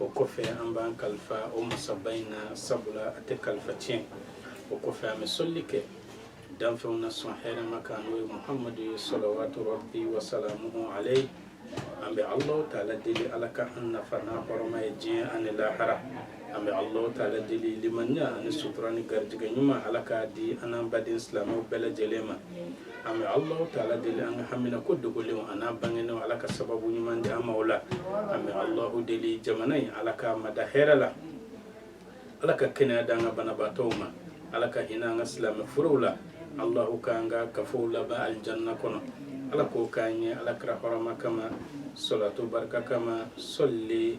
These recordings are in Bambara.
o kɔfɛ an b'an kalifa o masaba in na sabula a tɛ kalifa tiɲɛ o kɔfɛ an bɛ sɔlili kɛ danfɛnw na sɔn hɛrɛma kan n'o ye muhamadu ye salawatu rabbi wasalamuhu alayhi an bɛ alahu taala deli ala ka an nafa n'a hɔrɔma ye diɲɛ ani lahara an bɛ ala taala deli limaniya ani sutura ni garijɛgɛ ɲuman ala k'a di an n'an baden silamɛw bɛɛ lajɛlen ma an bɛ ala taala deli an ka haminako dogolenw an'a bangenenw ala ka sababu ɲuman di an ma o la an bɛ ala deli jamana in ala ka mada hɛrɛ la ala ka kɛnɛya di an ka banabaatɔw ma ala ka hinɛ an ka silamɛ furew la alahu k'an ka kafow laban alijanna kɔnɔ ala k'o k'an ye ala kira hɔrɔma kama salatu barika kama sɔli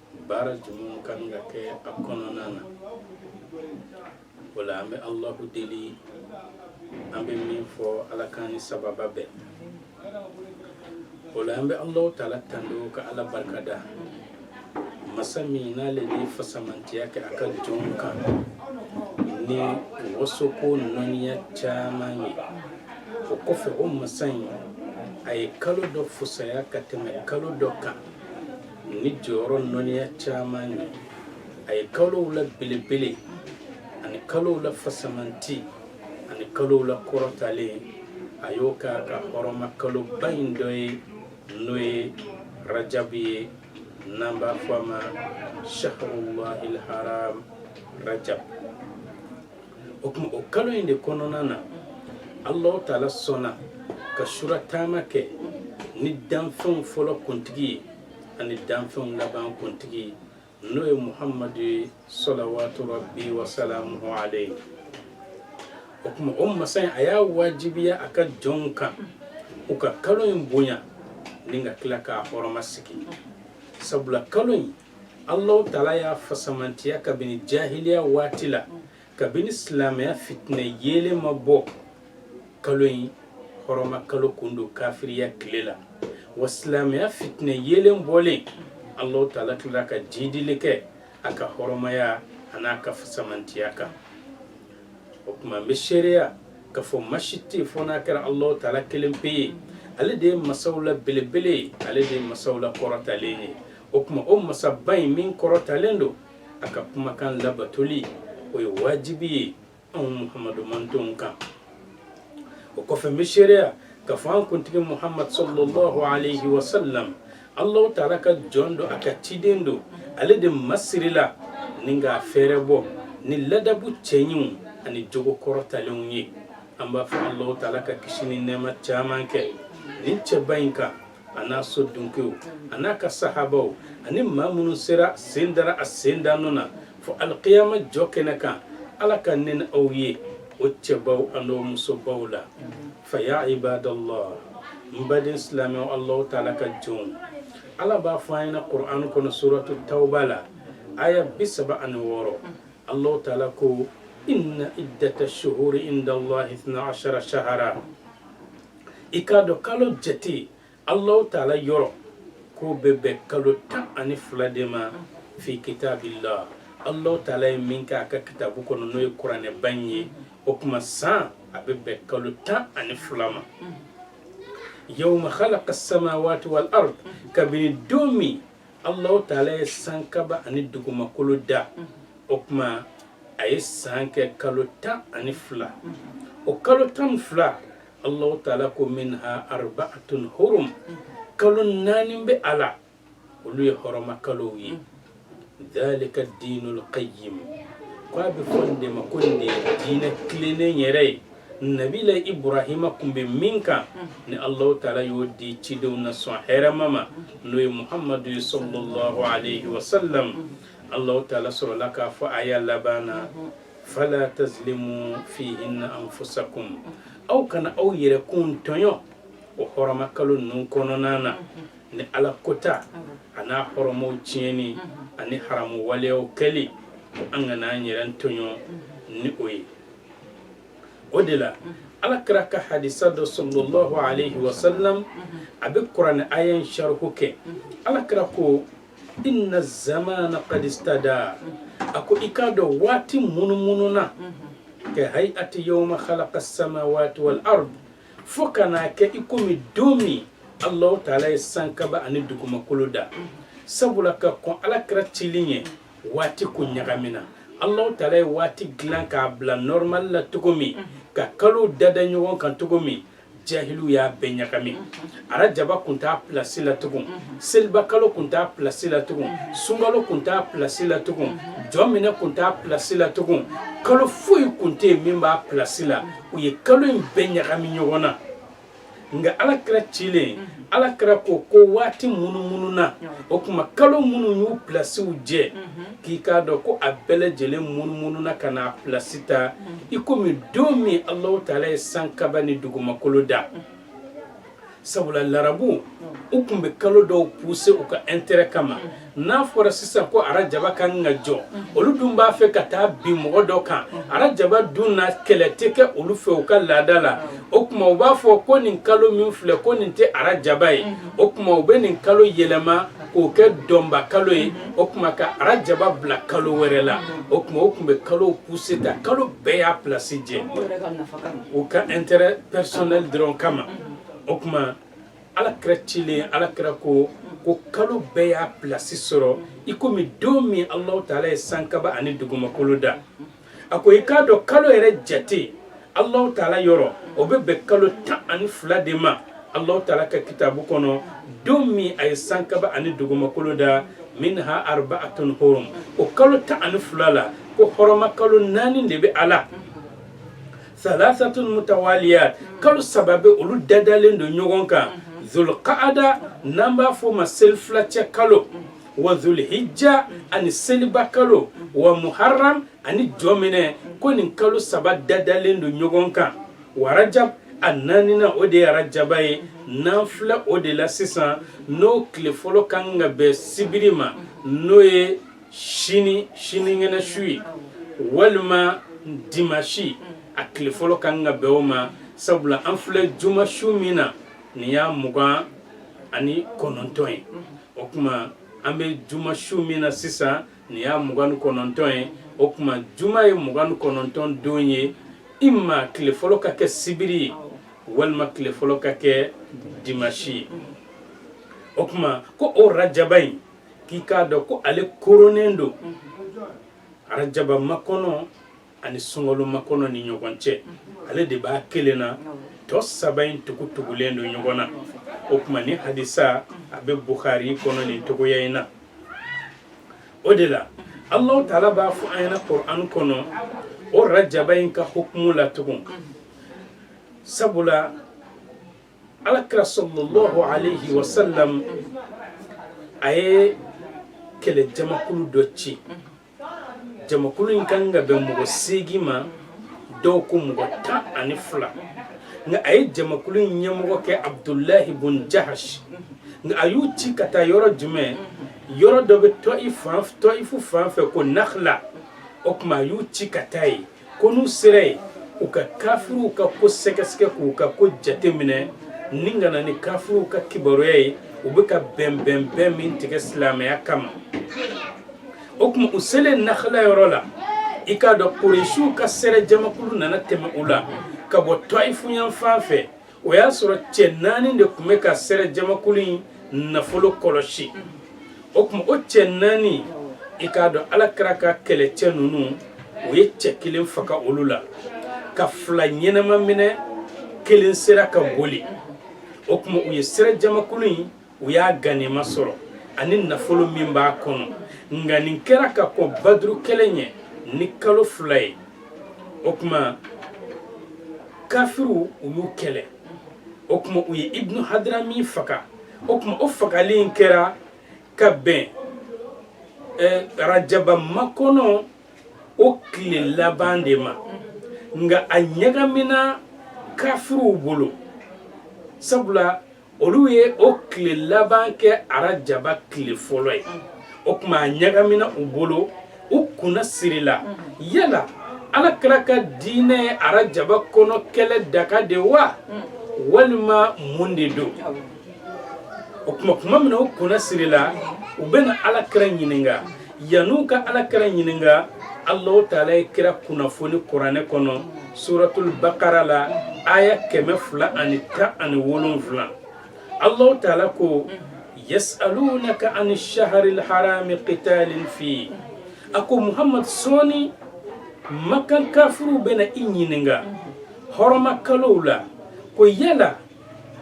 baara jumɛn ka kan ka kɛ a kɔnɔna na o la an bɛ alahu deli an bɛ min fɔ ala k'an ni sawaba bɛn o la an bɛ alahu taala tando ka ala barikada masa min n'ale ni fasamantiya kɛ a ka jɔnw kan ni wasoko nɔniya caman ye o kɔfɛ o masa in a ye kalo dɔ fusaya ka tɛmɛ kalo dɔ kan ni jɔyɔrɔ nɔniya caman ye a ye kalow la belebele ani kalow la fasamanti ani kalow la kɔrɔtalen a y'o k'a ka hɔrɔma kaloba in dɔ ye n'o ye rajabu ye n'an b'a fɔ a ma shahrulahil haram rajab o tuma o kalo in de kɔnɔna na alahu taala sɔnna ka sura taama kɛ ni danfɛnw fɔlɔ kuntigi ye ani danfɛnw laban kuntigi ye n'o ye muhamadu ye salawatu rabbi wasalamuhu alayhi o tuma o masa in a y'a wajibiya a ka jɔnw kan u ka kalo in bonya ni ka tila k'a hɔrɔma sigi sabula kalo in Allahu taala y'a fasamantiya kabini jahiliya waati la kabini silamɛya fitinɛ yeelen ma bɔ kalo in hɔrɔma kalo kun don kafiriya tile la wa silamɛya fitinɛ yeelen bɔlen Allahu taala tilala ka jiidili kɛ a ka hɔrɔmaya an'a ka fasamantiya kan o tuma n bɛ seereya k'a fɔ ma si tɛ fo n'a kɛra Allahu taala kelen pe ye ale de ye masaw la belebele ye ale de ye masaw la kɔrɔtalen ye o tuma o masaba in min kɔrɔtalen don a ka kumakan labatoli o ye wajibi ye anw muhamadu mantonw kan o kɔfɛ n bɛ seereya k'a fɔ an kuntigi muhamadu sallallahu alayhi wa sallam alahu taala ka jɔn don a ka ciden don ale de masirila ni k'a fɛɛrɛbɔ ni ladabu cɛɲinw ani jogo kɔrɔtalenw ye an b'a fɔ alahu taala ka kisi ni nɛɛma caman kɛ nin cɛba in kan a n'a so dunkew a n'a ka sahabaw ani maa minnu sera sen dara a sen da nɔ na fo alikiyama jɔ kɛnɛ kan ala ka ne ni aw ye o cɛbaw an'o musobaw la fa ya ibadallah n baden silamɛw allahu taala ka jɔnw ala b'a fɔ an ɲɛna qur'an kɔnɔ suratu tawba la aya bi saba ani wɔɔrɔ allahu taala ko inna iddata shuhuri inda allahi ithna ashara shahara i k'a dɔn kalo jate alahu taala yɔrɔ k'o bɛ bɛn kalo tan ani fila de ma fi kitabillah alahu taala ye min kɛ a ka kitabu kɔnɔ n'o ye kuranɛba in ye o tuma san a bɛ bɛn kalo tan ani fila ma yawma khalaqa samawati wal ard kabini don min alahu taala ye sankaba ani dugumakolo da o tuma a ye san kɛ kalo tan ani fila o kalo tan ni fila Allahu taala ko minha arba'atun hurum kalo naani bɛ a la olu ye hɔrɔma kalow ye dhalika dinul qayyim k'a bɛ fɔ nin de ma ko nin de ye diinɛ tilennen yɛrɛ ye nabila ibrahima tun bɛ min kan ni allahu taala y'o di cidenw na sɔn hɛrɛma ma n'o ye muhamadu ye sallallahu alaihi wasallam allahu taala sɔrɔla k'a fɔ aya laban na fala tazlimu fihinna anfusakum aw kana aw yɛrɛkun tɔɲɔ o hɔrɔma kalo ninnu kɔnɔna na ni ala kota a n'a hɔrɔmaw tiɲɛni ani haramu waleyaw kɛli an kana an yɛrɛ tɔɲɔ ni o ye o de la ala kira ka hadisa dɔ sallallahu alaihi wasallam a bɛ kuranɛ aya in sharihu kɛ ala kira ko inna zamana qad istadar a ko i k'a dɔn waati munumununa ka hai'ati yawma khalaqa samawati wal ard fo ka na kɛ i komi don min allahu taala ye sankaba ani dugumakolo da sabula ka kɔn ala kira cili ye waati kun ɲagamina allahu taala ye waati dilan k'a bila normal la cogo min ka kalo dada ɲɔgɔn kan cogo min jahiliw y'a bɛɛ ɲagami arajaba kun t'a pilasi la tugun selibakalo kun t'a pilasi la tugun sunkalo kun t'a pilasi la tugun jɔminɛ kun t'a pilasi la tugun kalo foyi kun tɛ yen min b'a pilasi la u ye kalo in bɛɛ ɲagami ɲɔgɔn na nka ala kira cilen ala kira ko ko waati munumununa o tuma kalo minnu y'u pilasiw jɛ k'i k'a dɔn ko a bɛɛ lajɛlen munumununa ka na a pilasi ta i komi don min alahu taala ye sankaba ni dugumakolo da sabula larabuw tun bɛ kalo dɔw puse u ka intérêt kama n'a fɔra sisan ko arajaba ka kan ka jɔ olu dun b'a fɛ ka taa bin mɔgɔ dɔ kan arajaba dun na kɛlɛ tɛ kɛ olu fɛ u ka laada la o tuma u b'a fɔ ko nin kalo min filɛ ko nin tɛ arajaba ye o tuma u bɛ nin kalo yɛlɛma k'o kɛ dɔnba kalo ye o tuma ka arajaba bila kalo wɛrɛ la o tuma o tun bɛ kalow puse ta kalo bɛɛ y'a plasi jɛ u ka intérêt personnel dɔrɔn kama o tuma alakira cilen alakira ko ko kalo bɛɛ y'a plasi sɔrɔ i komi don min alahu taala ye sankaba ani dugumakolo da a ko i k'a dɔn kalo yɛrɛ jate alahu taala yɔrɔ o bɛ bɛn kalo tan ani fila de ma alahu taala ka kitabu kɔnɔ don min a ye sankaba ani dugumakolo da minha arbaatun hurum o kalo tan ani fila la ko hɔrɔma kalo naani de bɛ a la salasatun mutawaliyat kalo saba bɛ olu dadalen don ɲɔgɔn kan zulqaada n'an b'a fɔ o ma selifilacɛ kalo wa zulhijja ani seliba kalo wa muharram ani jɔminɛ ko nin kalo saba dadalen don ɲɔgɔn kan wa rajab a naaninan o de ye arajaba ye n'an filɛ o de la sisan n'o tile fɔlɔ ka kan ka bɛn sibiri ma n'o ye sini sinikɛnɛ su ye walima dimasi a tile fɔlɔ ka kan ka bɛn o ma sabula an filɛ juma su min na nin y'a mugan ani kɔnɔntɔn ye o tuma an bɛ juma su min na sisan nin y'a mugan ni kɔnɔntɔn ye o tuma juma ye mugan ni kɔnɔntɔn don ye ima tile fɔlɔ ka kɛ sibiri ye walima tile fɔlɔ ka kɛ dimasi ye o tuma ko o arajaba in k'i k'a dɔn ko ale koronnen don arajaba makɔnɔ ani sunkalo makɔnɔ ni ɲɔgɔn cɛ ale de b'a kelen na tɔ saba in tugu tugulen don ɲɔgɔn na o tuma nin hadisa a bɛ bukari kɔnɔ nin cogoya in na o de la alahu taala b'a fɔ an ɲɛna kur'an kɔnɔ o rajaba in ka hukumu la tugun sabula alakira sallallahu alayhi wa sallam a ye kɛlɛjamakulu dɔ ci jamakulu in ka kan ka bɛn mɔgɔ seegin ma dɔw ko mɔgɔ tan ani fila nka a ye jamakulu in ɲɛmɔgɔ kɛ abudulahi bun jahash nka a y'u ci ka taa yɔrɔ jumɛn yɔrɔ dɔ bɛ tɔifu fan fɛ ko nakhla o tuma a y'u ci ka taa yen Ko n'u sera yen u ka kafiriw ka ko sɛgɛsɛgɛ k'u ka ko jate minɛ ni ka na ni kafiriw ka kibaruya ye u bɛ ka bɛnbɛn bɛn min tigɛ silamɛya kama o tuma u selen nakala yɔrɔ la i k'a dɔn koresiw ka sɛrɛ jamakulu nana tɛmɛ u la ka bɔ toyifu yanfan fɛ o y'a sɔrɔ cɛ naani de tun bɛ ka sɛrɛ jamakulu in nafolo kɔlɔsi o tuma o cɛ naani i k'a dɔn ala kira ka kɛlɛcɛ ninnu u ye cɛ kelen faga olu la ka fila ɲɛnama minɛ kelen sera ka boli o tuma u ye sɛrɛ jamakulu in u y'a ganima sɔrɔ ani nafolo min b'a kɔnɔ nka nin kɛra ka kɔn baduru kɛlɛ ɲɛ ni kalo fila ye o tuma kafiriw u y'u kɛlɛ o tuma u ye ibnu hadirami faga o tuma o fagali in kɛra ka bɛn eh, rajaba makɔnɔ o tile laban de ma nka a ɲagamina kafiriw bolo sabula olu ye o tile laban kɛ arajaba tile fɔlɔ ye o tuma a ɲagamina u bolo u kunna sirila yala ala kira ka diinɛ ye arajaba kɔnɔ kɛlɛ daka de wa walima mun de don o tuma tuma min na u kunna sirila u bɛna ala kira ɲininka yan'u ka ala kira ɲininka alahu taala ye kira kunnafoni kuranɛ kɔnɔ suratul bakara la aya kɛmɛ fila ani tan ani wolonfila alahu taala ko yasalunaka ani saharil harami qitalin fi a ko muhamadu sɔɔni makan kafiriw bɛna i ɲininka hɔrɔma kalow la ko yala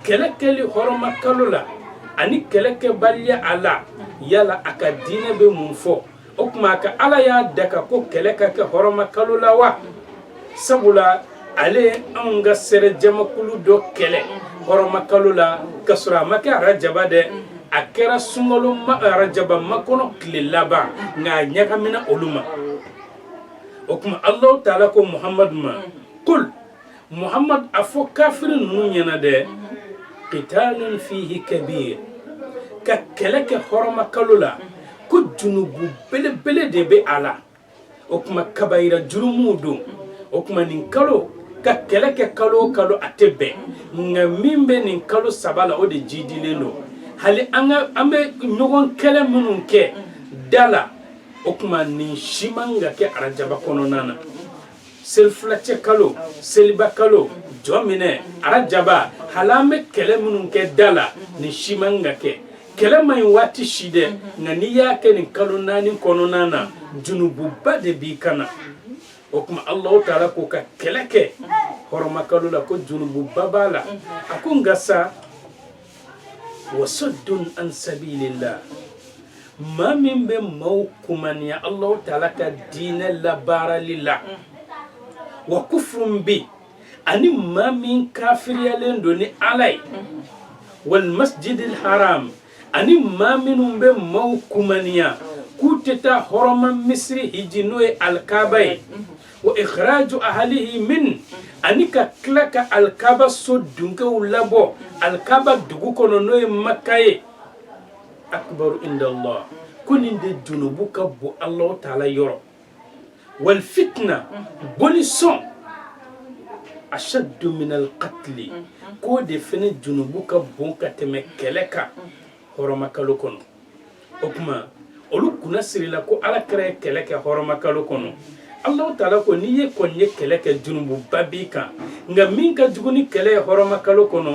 kɛlɛ kɛli hɔrɔma kalo la ani kɛlɛ kɛbaliya a la yala a ka diinɛ bɛ mun fɔ o tuma a ka ala y'a daka ko kɛlɛ ka kɛ hɔrɔma kalo la wa sabula ale ye anw ka sɛrɛ jamakulu dɔ kɛlɛ hɔrɔma kalo la ka sɔrɔ a ma kɛ arajaba dɛ a kɛra sunkalo ma arajaba makɔnɔ tile laban nka a ɲagamina olu ma o tuma alahu taala ko muhamadu ma kul muhammad a fɔ kafiri ninnu ɲɛna dɛ qitalun fihi kabir ka kɛlɛ kɛ hɔrɔma kalo la ko junubu belebele de bɛ a la o tuma kabayira jurumuw don o tuma nin kalo ka kɛlɛ kɛ kalo o kalo a tɛ bɛn nka min bɛ nin kalo saba la o de jidilen don hali an ka an bɛ ɲɔgɔn kɛlɛ minnu kɛ da la o tuma nin si man ka kɛ arajaba kɔnɔna na selifilacɛ kalo seliba kalo jɔminɛ arajaba hali an bɛ kɛlɛ minnu kɛ da la nin si man ka kɛ kɛlɛ man ɲi waati si dɛ nka n'i y'a kɛ nin kalo naani kɔnɔna na junububa de b'i kan na o tuma alahu taala ko ka kɛlɛ kɛ hɔrɔmakalo la ko junububa b'a la a ko nka sa wa saddun an sabilillah maa min bɛ maaw kumaniya Allahu taala ka diinɛ labaarali la wa kufurun bi ani maa min kafiriyalen don ni Ala ye wal masjidil haram ani maa minnu bɛ maaw kumaniya k'u tɛ taa hɔrɔma misiri hiji n'o ye alikaaba ye wa ikhraju ahlihi min ani ka tila ka alikaba so dunkew labɔ alikaba dugu kɔnɔ n'o ye maka ye akbaru inda allah ko nin de junubu ka bon alahu taala yɔrɔ wal fitna boli sɔn ashaddu min alqatli k'o de fɛnɛ junubu ka bon ka tɛmɛ kɛlɛ kan hɔrɔmakalo kɔnɔ o tuma olu kunna sirila ko alakira ye kɛlɛ kɛ hɔrɔmakalo kɔnɔ alahu taala ko n'i ye kɔni ye kɛlɛ kɛ junububa b'i kan nka min ka jugu ni kɛlɛ ye hɔrɔmakalo kɔnɔ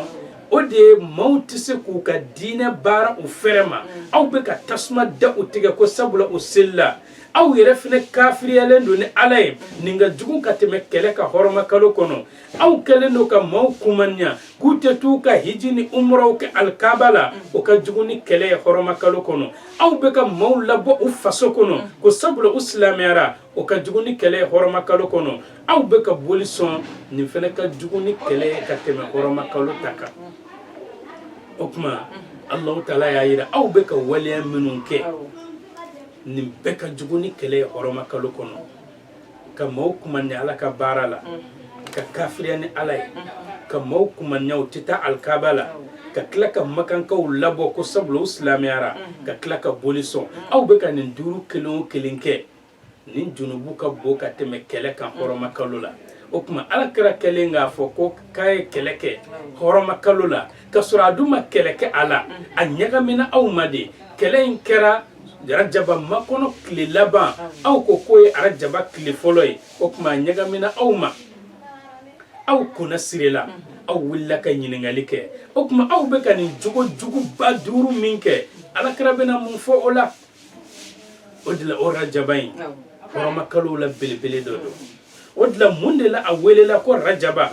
o de ye maaw tɛ se k'u ka diinɛ baara u fɛrɛ ma aw bɛ ka tasuma da u tigɛ ko sabula u selila aw yɛrɛ fɛnɛ kafiriyalen don ni ala ye nin ka jugu ka tɛmɛ kɛlɛ kan hɔrɔmakalo kɔnɔ aw kɛlen don ka maaw kumaniya k'u tɛ t'u ka hiji ni umuraw kɛ alikaba la o ka jugu ni kɛlɛ ye hɔrɔmakalo kɔnɔ aw bɛ ka maaw labɔ u faso kɔnɔ ko sabula u silamɛyara o ka jugu ni kɛlɛ ye hɔrɔmakalo kɔnɔ aw bɛ ka boli sɔn nin fɛnɛ ka jugu ni kɛlɛ ye ka tɛmɛ hɔrɔmakalo ta kan o tuma alahu taala y'a jira aw bɛ ka waleya minnu kɛ nin bɛɛ ka jugu ni kɛlɛ ye hɔrɔmakalo kɔnɔ ka maaw kumaniya ala ka baara la ka kafiriya ni ala ye ka maaw kumaniya u tɛ taa alikaba la ka tila ka makankaw labɔ ko sabula u silamɛyara ka tila ka boli sɔn aw bɛ ka nin duuru kelen o kelen kɛ nin junubu ka bon ka tɛmɛ kɛlɛ kan hɔrɔmakalo la o tuma alakira kɛlen k'a fɔ ko k'a ye kɛlɛ kɛ hɔrɔmakalo la ka sɔrɔ a dun ma kɛlɛ kɛ a la a ɲagamina aw ma de kɛlɛ in kɛra arajaba makɔnɔ tile laban aw ko k'o ye arajaba tile fɔlɔ ye o tuma a ɲagamina aw ma aw kunna sirila aw wulila ka ɲininkali kɛ o tuma aw bɛ ka nin jogo juguba duuru min kɛ alakira bɛna mun fɔ o la o de la o rajaba in hɔrɔmakalow la belebele dɔ don o de la mun de la a welela ko rajaba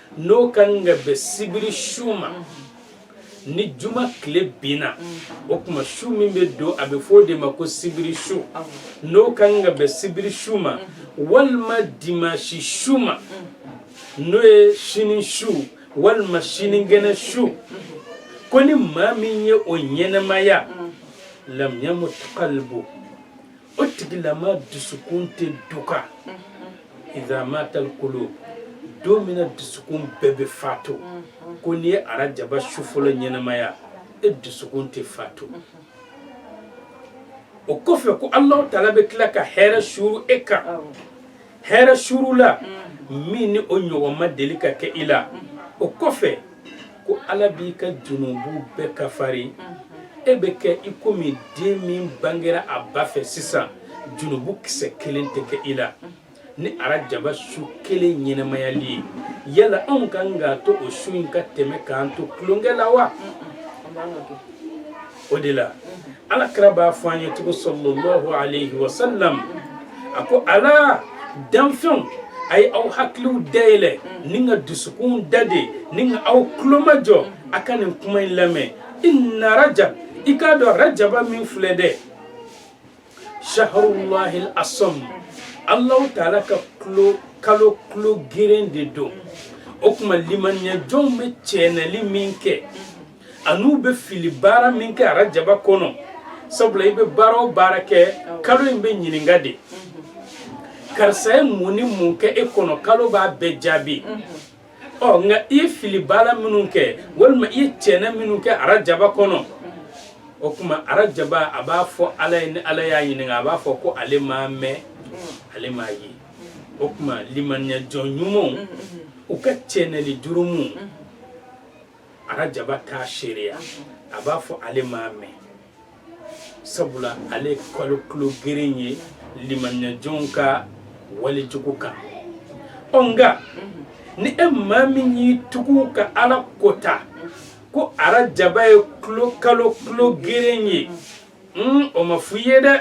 n'o ka kan ka bɛn sibiri su ma ni juma tile binna o tuma su min bɛ don a bɛ fɔ o de ma ko sibiri su n'o ka kan ka bɛn sibiri su ma walima dimansi su ma n'o ye sini su walima sinikɛnɛ su ko ni maa min ye o ɲɛnɛmaya lam yamut qalbuhu o tigilama dusukun tɛ duka iza matatil qulub don min na dusukun bɛɛ bɛ faatu ko n'i ye arajaba su fɔlɔ ɲɛnamaya e dusukun tɛ faatu o kɔfɛ ko alahu taala bɛ tila ka hɛrɛ suuru e kan hɛrɛ suuru la min ni o ɲɔgɔn ma deli ka kɛ i la o kɔfɛ ko ala b'i ka junubu bɛɛ kafari e bɛ kɛ i komi den min bangera a ba fɛ sisan junubu kisɛ kelen tɛ kɛ i la ni arajaba su kelen ɲɛnamayali ye yala anw kan k'a to o su in ka tɛmɛ k'an to tulonkɛ la wa o de la ala kira b'a fɔ an ye cogo sallallahu alayhi wa sallam a ko ala danfɛnw a ye aw hakiliw dayɛlɛ ni ka dusukun da de ni ka aw tulo majɔ a ka nin kuma in lamɛn inna rajab i k'a dɔn rajaba min filɛ dɛ shahrullahi asamm alahu taala ka tulo kalo tulo geren de don o tuma limaniya jɔnw bɛ cɛnɛli min kɛ an'u bɛ fili baara min kɛ arajaba kɔnɔ sabula i bɛ baara o baara kɛ kalo in bɛ ɲininka de karisa ye mun ni mun kɛ e kɔnɔ kalo b'a bɛɛ jaabi ɔ nka i ye fili baara minnu kɛ walima i ye cɛnɛ minnu kɛ arajaba kɔnɔ o tuma arajaba a b'a fɔ ala ye ni ala y'a ɲininka a b'a fɔ ko ale m'a mɛn ale m'a ye o tuma limaniyajɔn ɲumanw u ka cɛnɛli jurumu arajaba t'a seereya a b'a fɔ ale m'a mɛn sabula ale ye kalo tulo geren ye limaniyajɔnw ka walejugu kan ɔ nka ni e maa min y'i tugu ka ala kota ko arajaba ye tulo kalo tulo geren ye Mm, o ma f'i ye dɛ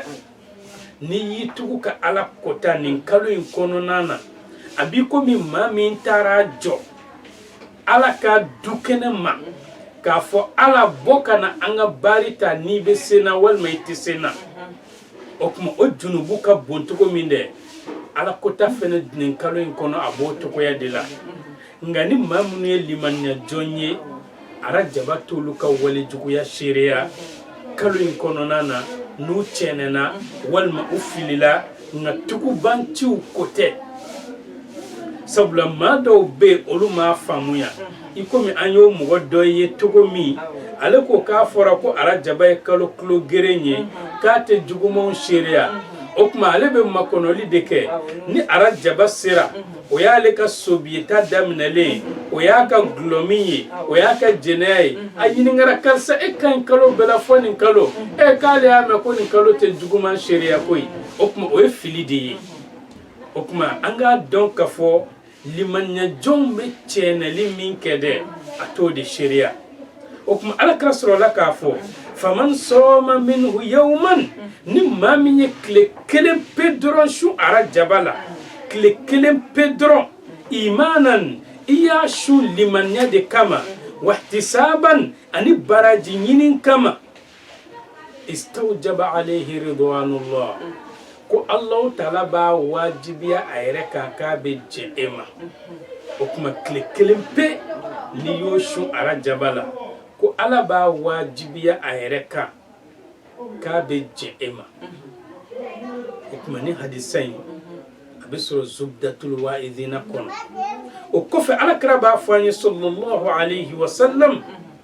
n'i y'i tugu ka ala kota nin kalo in kɔnɔna na a b'i komi maa min taara jɔ ala ka dukɛnɛ ma k'a fɔ ala bɔ ka na an ka baari ta n'i bɛ se n na walima i tɛ se n na o tuma o junubu ka bon cogo min dɛ ala kota fɛnɛ nin kalo in kɔnɔ a b'o cogoya de la nka ni maa minnu ye limaniya jɔn ye arajaba t'olu ka wale juguya seereya kalo in kɔnɔna na n'u cɛɛnɛna walima u filila nka tugubanciw ko tɛ sabula maa dɔw bɛ yen olu m'a faamuya i komi an y'o mɔgɔ dɔ ye cogo min ale ko k'a fɔra ko arajaba ye kalo tulo geren ye k'a tɛ jugumanw seereya o tuma ale bɛ makɔnɔli de kɛ ni arajaba sera o y'ale ka sobita daminɛlen o y'a ka gulɔmin ye o y'a ka jɛnɛya ye a ɲininkara karisa e ka ɲi kalo bɛɛ la fɔ nin kalo e k'ale y'a mɛn ko nin kalo tɛ juguman seereya koyi o tuma o ye fili de ye o tuma an k'a dɔn k'a fɔ limaniyajɔnw bɛ cɛɛnɛli min kɛ dɛ a t'o de seereya o tuma ala kira sɔrɔla k'a fɔ faman sɔɔma minhu yawman ni maa min ye tile kelen pe dɔrɔn sun arajaba la tile kelen pe dɔrɔn imanan i y'a sun limaniya de kama wahtisaban ani baraji ɲinin kama istawjaba alayhi ridwanullah ko Allahu taala b'a wajibiya a yɛrɛ kan k'a bɛ jɛn e ma o tuma tile kelen pe n'i y'o sun arajaba la ko Ala b'a wajibiya a yɛrɛ kan k'a bɛ jɛn e ma o tuma nin hadisa in a bɛ sɔrɔ zubdatul wa'idina kɔnɔ o kɔfɛ Ala kira b'a fɔ an ye sallallahu alayhi wa sallam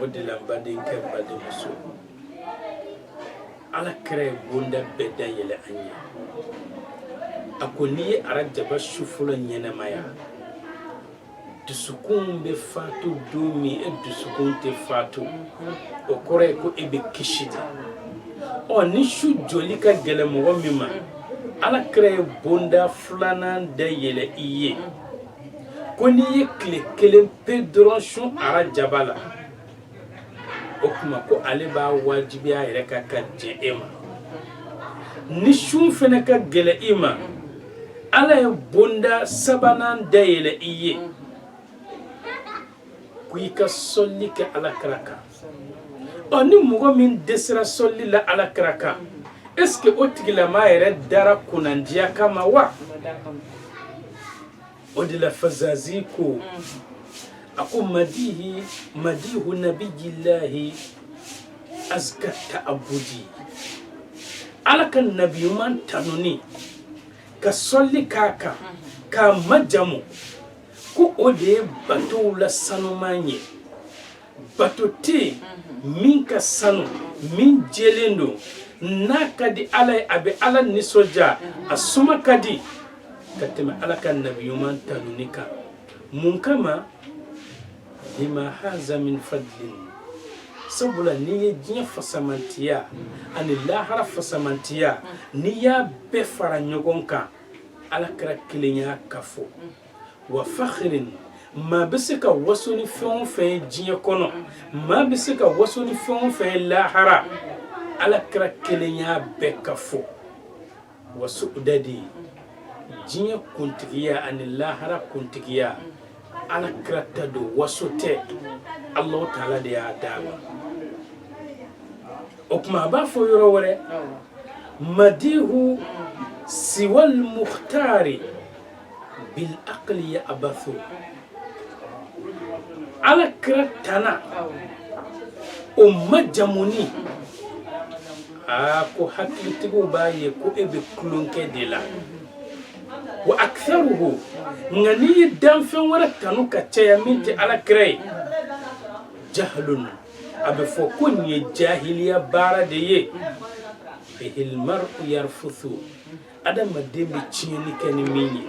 o de la badenkɛ badenmuso ala kira ye bonda bɛɛ da yɛlɛ an ye a ko n'i ye arajaba su fɔlɔ ɲɛnamaya dusukun bɛ faatu don min e dusukun tɛ faatu o kɔrɔ ye ko e bɛ kisi de ɔ ni su jɔli ka gɛlɛn mɔgɔ min ma ala kira ye bonda filanan da yɛlɛ i ye ko n'i ye tile kelen pe dɔrɔn sun arajaba la o tuma ko ale b'a wajibiya a yɛrɛ kan ka jɛn e ma ni sun fana ka gɛlɛn i ma ala ye bonda sabanan dayɛlɛ i ye ko i ka sɔli kɛ ala kira kan ɔ ni mɔgɔ min dɛsɛra sɔli la ala kira kan est ce que o tigilama yɛrɛ dara kunnandiya kama wa o de la fazazi ko a ko madihu nabiyilahi azka ta'abudi ala ka nabi ɲuman tanuni ka sɔli k'a kan k'a majamu ko o de ye batow la sanuman ye bato tɛ yen mhm. min ka sanu min jɛlen don n'a ka di ala ye a bɛ ala nisɔndiya a suma ka di ka tɛmɛ ala ka nabi ɲuman tanuni kan mun kama lima haza min fadlin sabula n'i ye diɲɛ fasamantiya ani lahara fasamantiya n'i y'a bɛɛ fara ɲɔgɔn kan ala kira kelen y'a kafo wa fahrin maa bɛ se ka waso ni fɛn o fɛn diɲɛ kɔnɔ maa bɛ se ka waso ni fɛn o fɛn lahara ala kira kelen y'a bɛɛ kafo wa su'dadi diɲɛ kuntigiya ani lahara kuntigiya ala kira ta don waso tɛ alahu taala de y'a d'a ma o tuma a b'a fɔ yɔrɔ wɛrɛ madihu siwal muhtari bil aqli ya'bathu ala kira tanaw majamuni aa ko hakilitigiw b'a ye ko e bɛ tulonkɛ de la wa aksaruhu nka n'i ye danfɛn wɛrɛ tanu ka caya min tɛ ala kira ye jahlun a bɛ fɔ ko nin ye jahiliya baara de ye bihil mar'u yarfuthu adamaden bɛ tiɲɛni kɛ ni min ye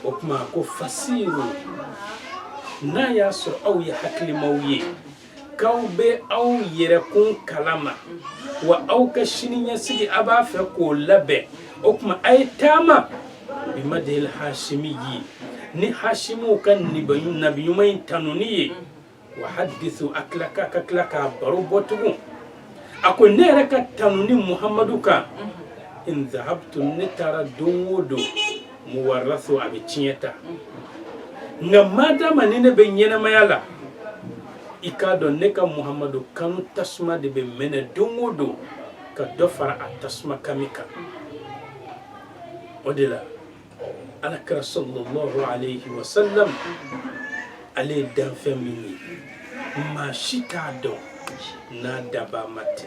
o tuma a ko fasiru n'a y'a sɔrɔ aw ye hakilimaw ye k'aw bɛ aw yɛrɛkun kalama wa aw ka sini ɲɛsigi a b'a fɛ k'o labɛn o tuma a ye taama bi madhil hasimiyi ni hasimu ka nabi ɲuman in tanuni ye wa haddisu a tila ka ka tila k'a baro bɔ tugun a ko ne yɛrɛ ka tanuni muhamadu kan in zahabtu ne taara don o don muwaraso a bɛ tiɲɛ ta nka madama ni ne bɛ ɲɛnamaya la i k'a dɔn ne ka muhamadu kanu tasuma de bɛ mɛnɛ don o don ka dɔ fara a tasuma kami kan o de la ala kira sallallahu alayhi wa sallam ale ye danfɛn min ye maa si t'a dɔn n'a dabaa ma tɛ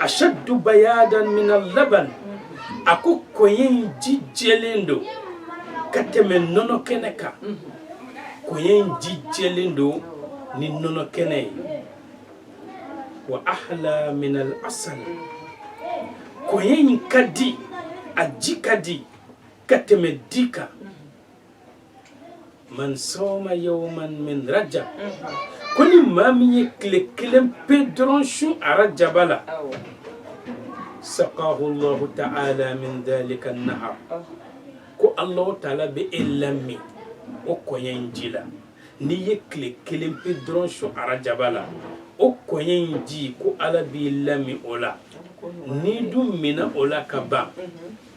ashaddu bayadan min al-laban a ko kɔ in ji jɛlen don ka tɛmɛ nɔnɔ kɛnɛ kan kɔ in ji jɛlen don ni nɔnɔ kɛnɛ ye wa ahla min al-asal kɔ in ka di a ji ka di ka tɛmɛ di kan man soma yawman min rajab ko ni maa min ye tile kelen pe dɔrɔn su arajaba la saqahu llahu taala min dhalika nahar ko allahu taala bɛ e lamin o kɔɲɛ in ji la n'i ye tile kelen pe dɔrɔn su arajaba la o kɔɲɛ in ji ko ala b'i lamin o la n'i dun minna o la ka ban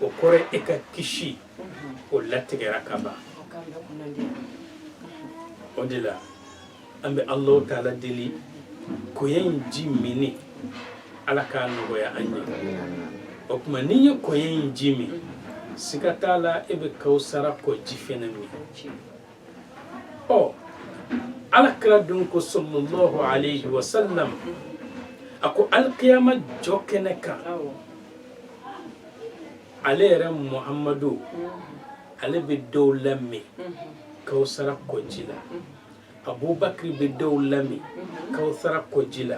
o kɔrɔ e ka kisi o latigɛra ka ban o de la an bɛ alahu taala deli koya in ji minni ala k'a nɔgɔya an ye o tuma n'i ye koya in ji min siga t'a la e bɛ kawusara kɔji fɛnɛ min ɔ ala kira dun ko sɔlɔlɔhu alayhi wa sallam a ko alikiyama jɔ kɛnɛ kan ale yɛrɛ muhamadu ale bɛ dɔw lamin kawusara kɔji la abubakari bɛ dɔw lamin kawusara kɔji la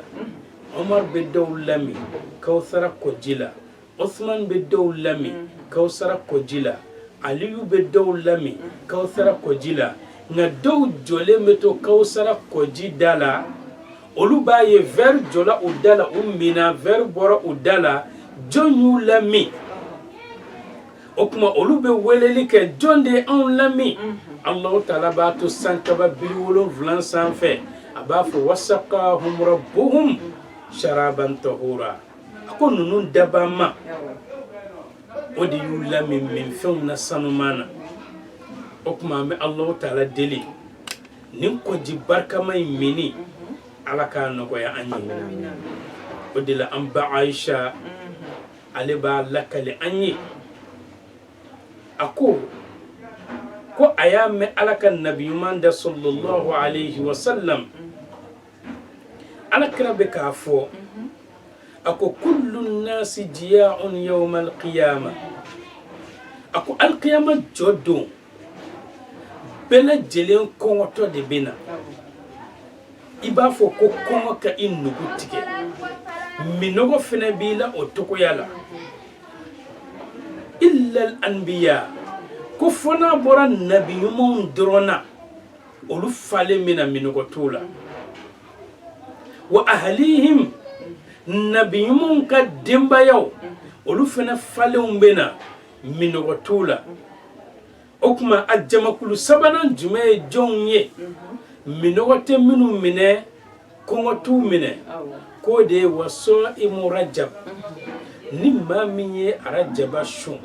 omar bɛ dɔw lamin kawusara kɔji la osman bɛ dɔw lamin kawusara kɔji la aliyu bɛ dɔw lamin kawusara kɔji la nka dɔw jɔlen bɛ to kawusara kɔji da la olu b'a ye vɛri jɔla u da la u minna vɛri bɔra u da la jɔn y'u lamin o tuma olu bɛ weleli kɛ jɔn de ye anw lamin alahu taala b'a to san kaba biri wolonwula sanfɛ a b'a fɔ wasakahum rabbuhum sharaban tahura a ko ninnu dabaa ma o de y'u lamin minfɛnw na sanuman na o tuma an bɛ alahu taala deli nin kɔji barikama in minni ala k'a nɔgɔya an ye o de la an ba ayisa ale b'a lakali an ye a ko ko a y'a mɛn ala ka nabi ɲuman da sɔlɔlɔhu alayhi wa sallam ala kira bɛ k'a fɔ a ko kullu nasi jiya'un yawma alqiyama a ko alqiyama jɔ don bɛɛ lajɛlen kɔngɔtɔ de bɛ na i b'a fɔ ko kɔngɔ ka i nugu tigɛ minnɔgɔ fana b'i la o cogoya la illal anbiya ko fɔ n'a bɔra nabi ɲumanw dɔrɔn na olu falen bɛ na minnɔgɔ t'o la wa ahalihim nabi ɲumanw ka denbayaw olu fana falenw bɛ na minɔgɔ t'u la o tuma a jamakulu sabanan jumɛn ye jɔnw ye minɔgɔ tɛ minnu minɛ kɔngɔ t'u minɛ k'o de ye wa sa'imu rajab ni maa min ye arajaba sun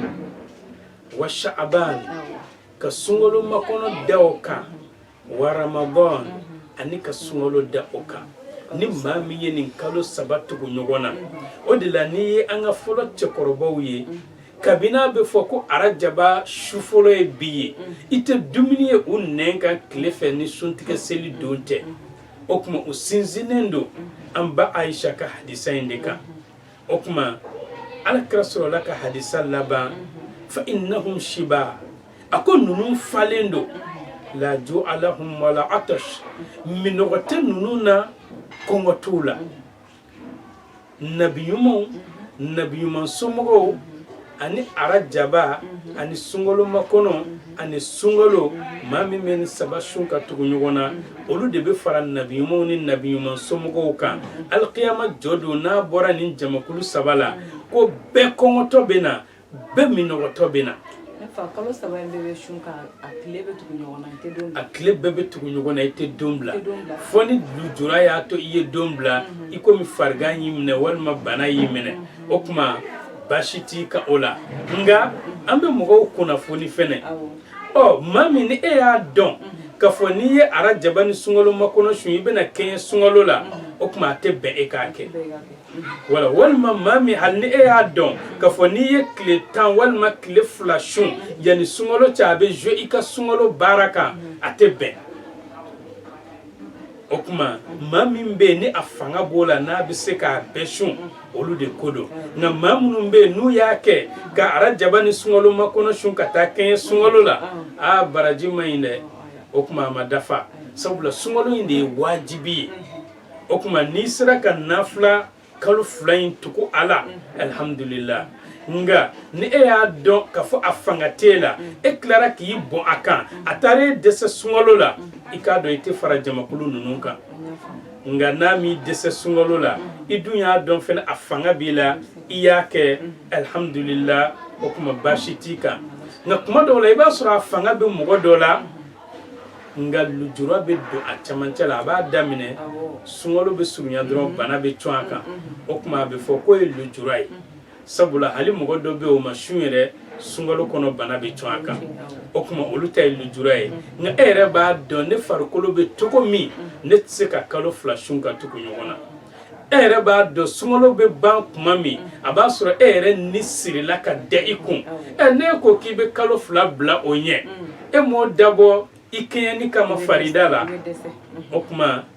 wa sha'aban ka sunkalo makɔnɔ da o kan wa ramadan ani ka sunkalo da o kan ni maa min ye nin kalo saba tugu ɲɔgɔn na o de la n'i ye an ka fɔlɔ cɛkɔrɔbaw ye kabini a bɛ fɔ ko arajaba su fɔlɔ ye bi ye i tɛ dumuni ye u nɛn kan tile fɛ ni suntigɛ seli don tɛ o tuma u sinsinnen don an ba ayisa ka hadisa in de kan o tuma ala kira sɔrɔla ka hadisa laban fa innahum shiba a ko ninnu falen don la ju'a lahum wala atash minɔgɔ tɛ ninnu na kɔngɔ t'u la nabiɲumanw nabiɲuman somɔgɔw ani arajaba mhm. ani sunkalo makɔnɔ mhm. ani sunkalo mhm. maa min bɛ nin saba sun ka tugu ɲɔgɔn na olu de bɛ fara nabiɲumanw ni nabiɲuman somɔgɔw kan alikiyama jɔ don n'a bɔra nin jamakulu saba la ko bɛɛ kɔngɔtɔ bɛ na bɛɛ minɔgɔtɔ bɛ na kalo saba in bɛɛ bɛ sun ka a tile bɛɛ tugu ɲɔgɔn na i tɛ don bila a tile bɛɛ bɛ tugu ɲɔgɔn na i tɛ don bila fo ni lujura y'a to i ye don bila i komi farigan y'i minɛ walima bana y'i minɛ o tuma baasi t'i kan o la nka an bɛ mɔgɔw kunnafoni fɛnɛ ɔ maa min ni e y'a dɔn k'a fɔ n'i ye arajaba ni sunkalo makɔnɔ sun i bɛna kɛɲɛ sunkalo la o tuma a tɛ bɛn e k'a kɛ wala walima maa min hali ni e y'a dɔn k'a fɔ n'i ye tile tan walima tile fila sun yanni sunkalo cɛ a bɛ zuwe i ka sunkalo baara kan a tɛ bɛn o tuma maa min bɛ yen ni a fanga b'o la n'a bɛ se k'a bɛɛ sun olu de ko don nka maa minnu bɛ yen n'u y'a kɛ ka arajaba ni sunkalo makɔnɔ sun ka taa kɛɲɛ sunkalo la aa baraji man ɲi dɛ o tuma a ma dafa sabula sunkalo in de ye wajibi ye o tuma n'i sera ka nafila kalo fila in tugu a la alihamudulila nka ni e y'a dɔn k'a fɔ a fanga t'e la e tilara k'i bon a kan a taara e dɛsɛ sunkalo la i k'a dɔn i tɛ fara jamakulu ninnu kan nka n'a m'i dɛsɛ sunkalo la i dun y'a dɔn fɛnɛ a fanga b'i la i y'a kɛ alihamudulila o tuma baasi t'i kan nka kuma dɔw la i b'a sɔrɔ a fanga bɛ mɔgɔ dɔ la nka lujura bɛ don a cɛmancɛ la a b'a daminɛ sunkalo bɛ surunya dɔrɔn bana bɛ cun a kan o tuma a bɛ fɔ k'o ye lujura ye sabula hali mɔgɔ dɔ bɛ o ma sun yɛrɛ sunkalo kɔnɔ bana bɛ cun a kan o tuma olu ta ye lujura ye nka e yɛrɛ b'a dɔn ne farikolo bɛ cogo min ne tɛ se ka kalo fila sun ka tugu ɲɔgɔn na e yɛrɛ b'a dɔn sunkalo bɛ ban tuma min a b'a sɔrɔ e yɛrɛ ni sirila ka da i kun ɛ n'e ko k'i bɛ kalo fila bila o ɲɛ e m'o dabɔ i kɛɲɛni kama farida la o tuma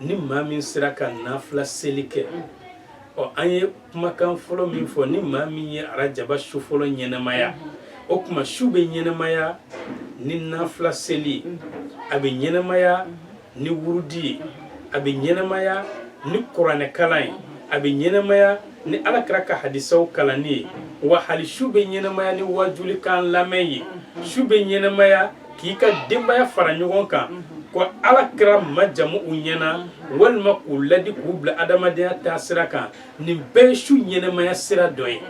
ni maa min sera ka nafila seli kɛ ɔ an ye kumakan fɔlɔ min fɔ ni maa min ye arajaba su fɔlɔ ɲɛnɛmaya o tuma su bɛ ɲɛnɛmaya ni nafila seli ye a bɛ ɲɛnɛmaya ni wurudi ye a bɛ ɲɛnɛmaya ni kuranɛkalan ye a bɛ ɲɛnɛmaya ni ala kira ka hadisaw kalanni ye wa hali su bɛ ɲɛnɛmaya ni waajulikan lamɛn ye su bɛ ɲɛnɛmaya k'i ka denbaya fara ɲɔgɔn kan ka ala kira majamu u ɲɛna walima k'u ladi k'u bila adamadenya taa sira kan nin bɛɛ ye su ɲɛnɛmaya sira dɔ ye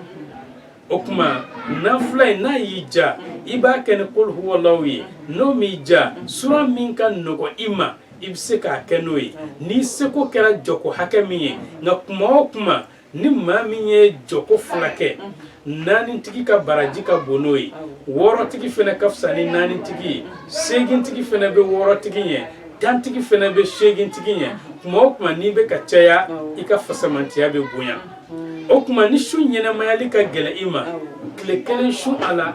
o tuma nafila ye n'a y'i ja i b'a kɛ ni kuluhuwalaw ye n'o m'i ja sura min ka nɔgɔ i ma i bɛ se k'a kɛ n'o ye n'i seko kɛra jɔko hakɛ min ye nka kuma o kuma ni maa min ye jɔko fila kɛ naanitigi ka baraji ka bon n'o ye wɔɔrɔtigi fana ka fisa ni naanitigi ye segintigi fana bɛ wɔɔrɔtigi ɲɛ tantigi fana bɛ segintigi ɲɛ tuma o tuma n'i bɛ k'a caya i ka fasamantiya bɛ bonya o tuma ni su ɲɛnamayali ka gɛlɛ i ma tile kelen sun a la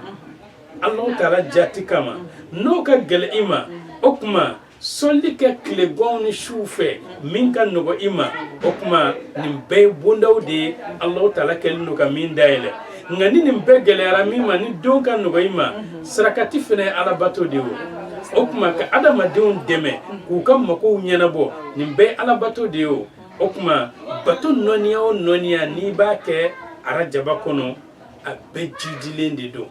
alahu taala jati kama n'o ka gɛlɛ i ma o tuma Seli kɛ tilegan ni su fɛ min ka nɔgɔ i ma o tuma nin bɛɛ ye bondaw de ye alahu taala kɛlen don ka min dayɛlɛ nka ni nin bɛɛ gɛlɛyara min ma ni don ka nɔgɔ i ma sarakati fana ye alabato de ye o tuma ka adamadenw dɛmɛ k'u ka magow ɲɛnabɔ nin bɛɛ alabato de ye o o tuma bato nɔɔniya o nɔɔniya n'i b'a kɛ arajaba kɔnɔ a bɛɛ jidilen de don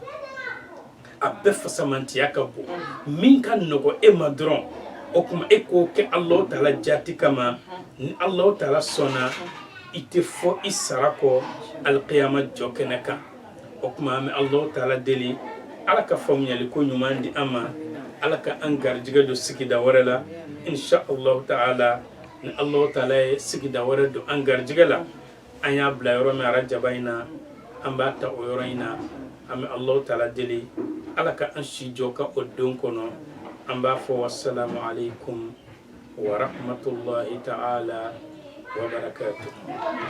a bɛɛ fasamantiya ka bon min ka nɔgɔ e ma dɔrɔn o tuma e k'o kɛ Alahu taala jaati kama ni Alahu taala sɔnna i tɛ fɔ i sara kɔ alikiyama jɔkɛnɛ kan o tuma an bɛ Alahu taala deli ala ka faamuyali ko ɲuman di an ma ala ka an garijɛgɛ don sigida wɛrɛ la insha Alahu taala ni Alahu taala ye sigida wɛrɛ don an garijɛgɛ la an y'a bila yɔrɔ min arajaba in na an b'a ta o yɔrɔ in na an bɛ alahu taala deli ala ka an si jɔ ka o don kɔnɔ an b'a fɔ wasalamu alayikum warahamatulahi taala wabarakatu